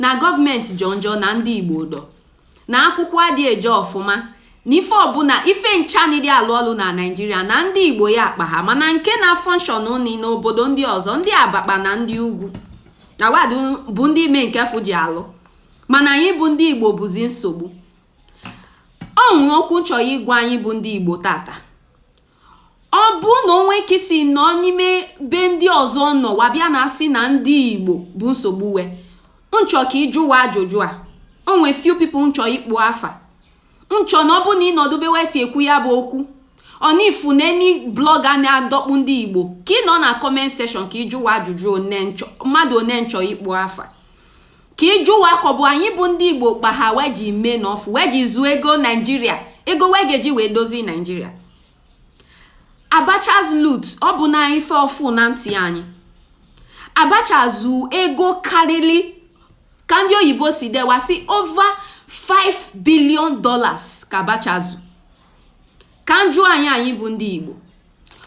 na gọọmenti jọ njọ na ndị igbo do na akwụkwọ adị eje ọfụma na ife ọbụla ife ncha adị alụ ọlụ na naijiria na ndị igbo ya kpaha mana nke na-function ni n'obodo ndị ọzọ ndị abakpa na ndị ugwu na wa bụ ndị mee nke fụ ji alụ mana anyị bụ ndị igbo bụzi nsogbu o nwe okwu nchọ ịgwa anyị bụ ndị igbo tata ọ bụ na o nwe ka i si nọ n'ime be ndị ọzọ nọ wa bịa na-asị na ndị igbo bụ nsogbu e nchọ ka ị jụ wa ajụjụ a o nwe few people nchọ ịkpọ afa nchọ na ọ bụ na ị nọdụ ebe wa si ekwu ya bụ okwu or ị fụ na any blog a na-adọkpụ ndị igbo ka ị nọ na comment section ka ị jụ wa ajụjụ mmadụ one nchọ ịkpọ afa ka ị jụ wa ka ọ bụ anyị bụ ndị igbo kpaha wa ji mee n'ọfụ wa ji zuo ego naijiria ego wa ga-eji wee dozie naijiria abacha's loot ọ bụ na ife ọfụụ na ntị anyị abacha zu ego karịrị ka ndị oyibo si dee wa sị over 5 billion dollars ka abacha zu ka njụ anyị anyị bụ ndị igbo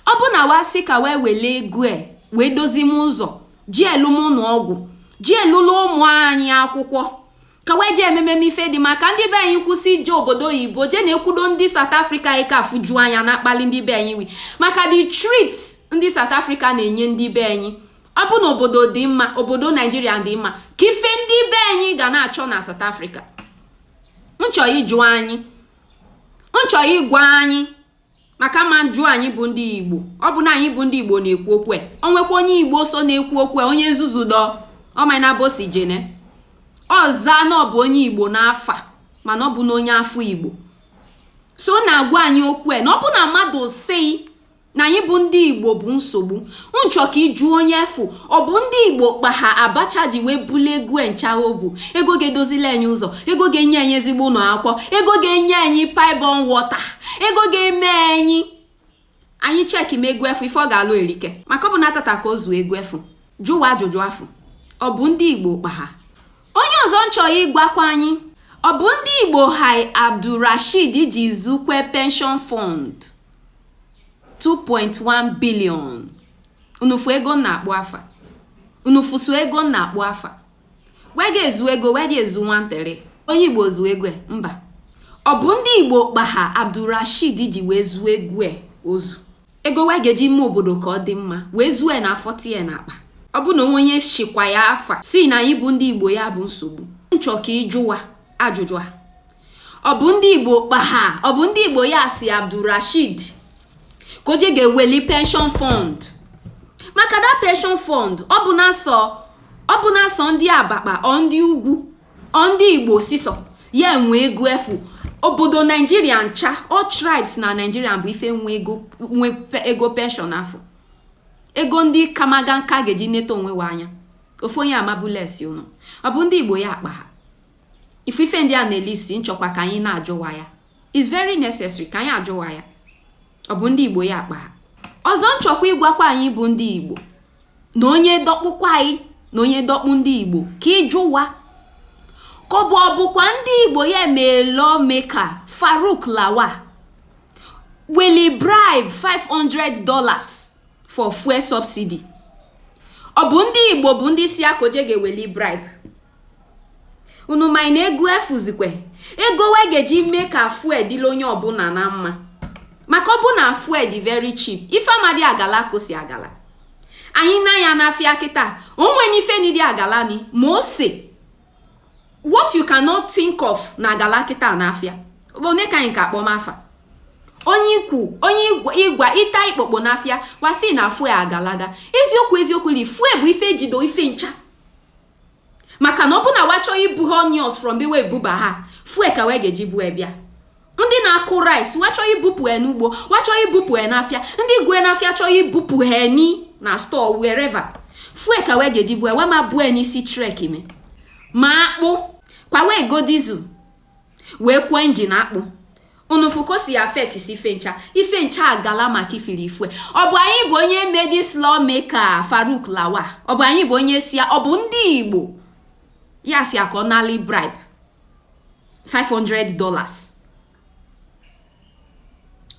ọ bụ na wa sị ka wa wele ego e wee dozie ụzọ ji alụ ụnọ ọgwụ ji alụlụ ụmụ anyị akwụkwọ ka wee ji eme ife dị mma ka ndị be anyị kwụsị ije obodo oyibo jee na-ekwudo ndị South Africa anyị ka afụju anya na-akpali ndị be anyị wi maka the treat ndị South Africa na-enye ndị be anyị ọ bụ na obodo dị mma obodo naijiria dị mma kee ife ndị be anyị ga na-achọ na South Africa nchọ ịjụ anyị nchọ ịgwa anyị maka ma njụ anyị bụ ndị igbo ọ bụ na anyị bụ ndị igbo na-ekwu okwu e. o nwekwa onye igbo so na-ekwu okwu e, onye nzuzu dọ ọmana bosi jene ọ za na ọ bụ onye igbo n'afa mana ọ bụ na onye afọ igbo so na-agwa anyị okwu e, na ọ bụ na mmadụ sị na anyị bụ ndị igbo bụ nsogbu nchọ ka ị jụ onye afụ ọ bụ ndị igbo kpaha abacha ji wee bulu ego e ncha o bu ego ga-edozili anyị ụzọ ego ga-enye anyị ezigbo ụnọ akwụkwọ ego ga-enye anyị pipe-borne water ego ga-eme anyị anyị cheki ma ego afụ ife ọ ga-alụ erika maka ọ bụ na tata ka o zu ego afụ jụ wa ajụjụ afụ ọ bụ ndị igbo kpaha onye ọzọ nchọ ịgwakwa anyị ọ bụ ndị igbo kpaha abdulrasheed ji zukwe pension fund 2.1 billion unu fụ ego m na-akpọ afa unu fụ so ego m na-akpọ afa wa ga-ezu ego wa adị ezu nwantere onye igbo zu ego mba ọ bụ ndị igbo kpaha abdulrasheed ji wee zuo ego o zu ego wa ga-eji mee obodo ka ọ dị mma wee zuo na-afọtie na akpa ọ bụ na o nwe onye sịkwa ya afa sị na anyị bụ ndị igbo ya bụ nsogbu nchọ ka ị jụ wa ajụjụ a ọ bụ ndị igbo kpa ha ọ bụ ndị igbo ya si abdulrashid ka o je ga-eweli pension fund maka that pension fund ọ bụ na sọ ọ bụ na sọ ndị abakpa or ndị ugwu or ndị igbo sisọ ya enwe ego afụ obodo naijiria ncha all tribes na naijiria bụ ife nwe ego nwe ego pension afụ ego ndị kamaga nka ga-eji neta onwe wa anya ofu onye amabulesi ụnọ ọ bụ ndị igbo ya akpa ha ifu ife ndị a na-elist m chọkwa ka anyị na-ajụwa ya is very necessary ka anyị ajụwa ya ọ bụ ndị igbo ya akpa ha ọzọ m chọkwa ịgwakwa anyị bụ ndị igbo na onye dọkpụkwa anyị na onye dọkpụ ndị igbo ka ịjụwa ka ọ bụ ọ bụkwa ndị igbo ya mee lawmaker farouk lawan weli bribe 500 dollars for fuel subsidy ọ bụ ndị igbo bụ ndị si a ka o je ga-eweli bribe unu ma na ego efuzikwe ego we ga-eji mee ka fuel dịla onye ọbụla na mma maka ọ bụ na fuel dị very cheap ife ama dị agala ka o si agala anyị na ya n'afịa kịta o nwene ife ni dị agala ni ma ose what you cannot think of na-agala kịta n'afịa onye ka anyị ka akpọm afa onye ikwu onye ịgwa ịta ikpokpo n'afịa wa si na fuel agalaga eziokwu eziokwu li fuel bụ ife jido ife ncha maka na ọ bụ na wa chọọ ibu ha onions from be wee buba ha fuel ka wee ga-eji bue bịa ndị na-akụ rice wa chọọ ibupụ ya n'ugbo wa chọọ ibupụ ya n'afịa ndị gwe n'afịa chọọ ibupụ ha ni na store wherever fuel ka wee ga-eji bue wa ama bue n'isi trek me ma akpụ kwa wee go diesel wee kwọọ engine akpụ unu fụ ka o si affect si ife ncha ife ncha agala maka ifiri fuel ọ bụ anyị bụ onye me this lawmaker farouk lawan ọ bụ anyị bụ onye si ọ bụ ndị igbo ya si a ka ọ nali bribe 500 dollars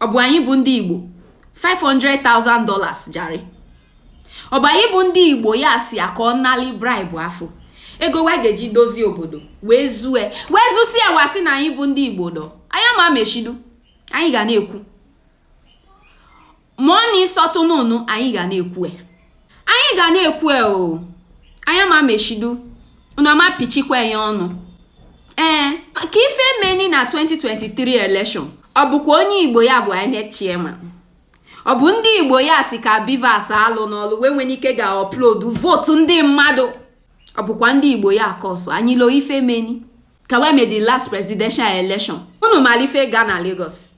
ọ bụ anyị bụ ndị igbo 500,000 dollars jare ọ bụ anyị bụ ndị igbo ya si ya ka ọ nali bribe afụ ego wa ga-eji dozie obodo wee zue wee zusie wa si na anyị bụ ndị igbo dọ anyị ama mechidu anyị ga na-ekwu ma ọ na ịsọtụ n'ụnụ anyị ga na-ekwue anyị ga na-ekwue o anyị ama mechidu unu ama pichikwa anyị ọnụ ee ka ife meni na 2023 election ọ bụkwa onye igbo ya bụ inec chairman ọ bụ ndị igbo ya si ka bvas alụna ọlụ wee nwere ike ga-upload vote ndị mmadụ ọ bụkwa ndị igbo ya ka ọsọ anyị loo ife meni ka wee mee the last presidential election unu mara ife ga na Lagos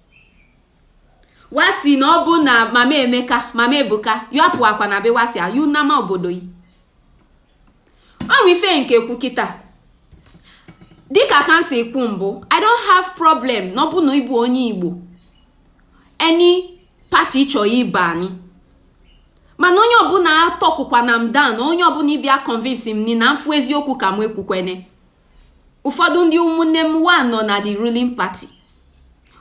wa si na ọ bụ na mama emeka mama ebuka yọpụ akwa na be wa si ayu nama obodo yi ọnwa ife nke kwu kịta dịka ka m si kwu mbụ i don't have problem na ọ bụ na ịbụ onye igbo any party chọọ ịbanye mana onye ọbụla atọkụkwana m down onye ọbụla ịbịa convince m ni na m fụ eziokwu ka m ekwukwene ụfọdụ ndị ụmụnne m wa nọ na the ruling party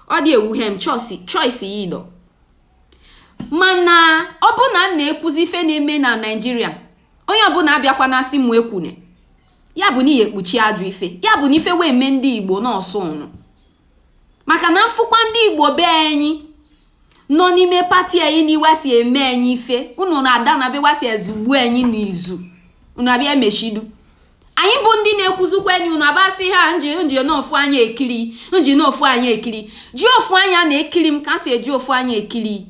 ọ dị ewuhe m choice ya idọ mana ọ bụ na m na-ekwuzi ife na-eme na naijiria onye ọbụla abịakwana asị m ekwune ya bụ na ihe ekpuchi ajọ ife ya bụ na ife wee mee ndị igbo na ọ sọ ụnụ maka na m fụkwa ndị igbo be anyị nọ n'ime party anyị na iwe si eme anyị ife unu na-ada na be wa si ezugbu anyị n'izu unu abịa emechidu anyị bụ ndị na-ekwuzikwa enyi unu abasị ha nji nji n'ofu anya ekiri nji n'ofu anya ekiri ji ofu anya na-ekiri m ka si eji ofu anya ekiri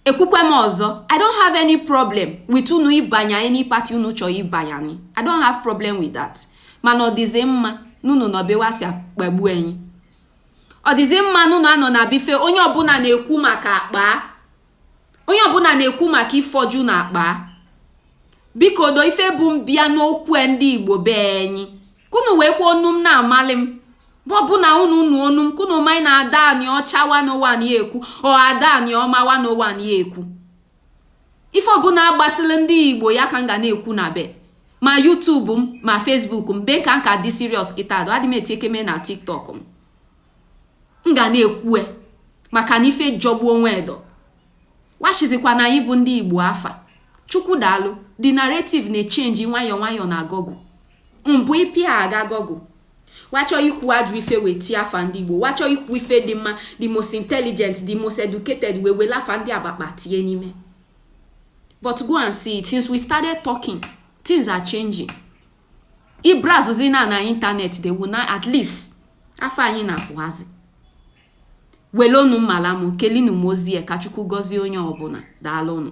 ekwukwe m ọzọ i don't have any problem with unu ịbanye any party unu chọọ ịbanye i don't have problem with that mana ọ dịzi mma n'unu nọ be wa si akpagbu enyi ọ dịzi mma na ụnụ anọ na be ife onye ọbụla na-ekwu maka akpa onye ọbụla na-ekwu maka ifoju na akpa biko do ife bu m bịa n'okwu e ndị igbo be enyi kunu wee kwuo onu m na-amalị m ọbụna unu unu onu m kunu malị na ada aniocha 101 ya ekwu ọ ada anioma 101 ya ekwu ife ọbụla agbasịla ndị igbo ya ka m ga na-ekwu na be ma youtube m ma facebook m be ka m ka dị serious kịta adụ adị m eti ekeme na tiktok m m ga na-ekwue maka na ife jọgbuo onwe edo wachizikwa na anyị bụ ndị igbo afa chukwu daalụ the narrative na-echange nwayọọ nwayọọ na google mbụ ịpịa aga google wa chọ ikwu ajọ ife wee tie afa ndị igbo wa chọ ikwu ife dị mma the most intelligent the most educated wee wele afa ndị agbakpa tinye n'ime but go and see it since we started talking things are changing ị browsezi na internet they will not at least afa anyị na-apụhazi welonu mmalamu kelinu mozie ka chukwu gọzie onye ọbụla daalụnụ